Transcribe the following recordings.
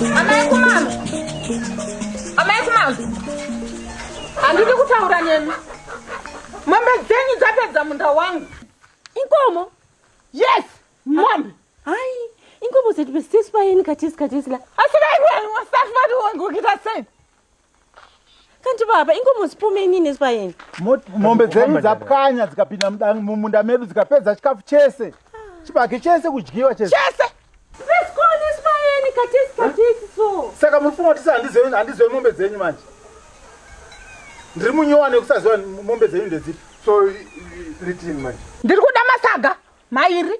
Amai kumama. Amai kumama. Handidi kutaura nemi. Mombe dzenyu dzapedza munda wangu. Inkomo? Yes, mombe. Hai, inkomo dzatipesiswa yeni katisi katisi la. Asi dai kuya wasafari wangu kita sei? Kanti baba ingomuzipome inini zipayeni. Mombe dzenyu dzapwanya dzikapinda mumunda medu dzikapedza chikafu chese. Chibage chese kudyiwa chese. Chese. Zvisikoni zipayeni katisi katisi so. Saka muri kufunga kuti handizoe handizoe mombe dzenyu manje. Ndiri munyowa nekusaziva mombe dzenyu ndedzipi. So ndiri kuda masaga mairi.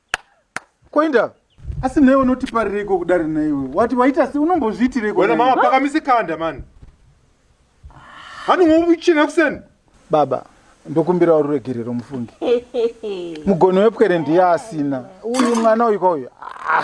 Koinda. Asi newe unotiparireko kudari naiwe. Wati waita si unombozviitireko. Wena mama pakamise kanda man. Hani ngobuchina kuseni. Baba, ndokumbira ururegerero mufungi. Mugono wepwere ndiye asina. Uyu mwana uyu kwa uyu. Ah.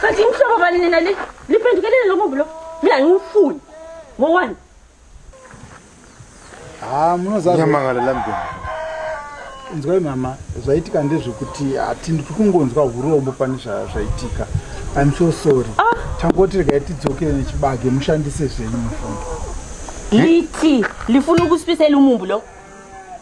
kati ngihlobo bani nina le liphendukelele lo mubi lo mina ngiwufuni ngowani ha munozanyamangala lambeni inzwai mama zvaitika ndezvekuti hatindi tiri kungonzwa urombo pane zvaitika im so sorry ah. tangoti regai tidzokere nechibage mushandise zvenyu mufundo liti lifuna ukusipisa ilumumbu lo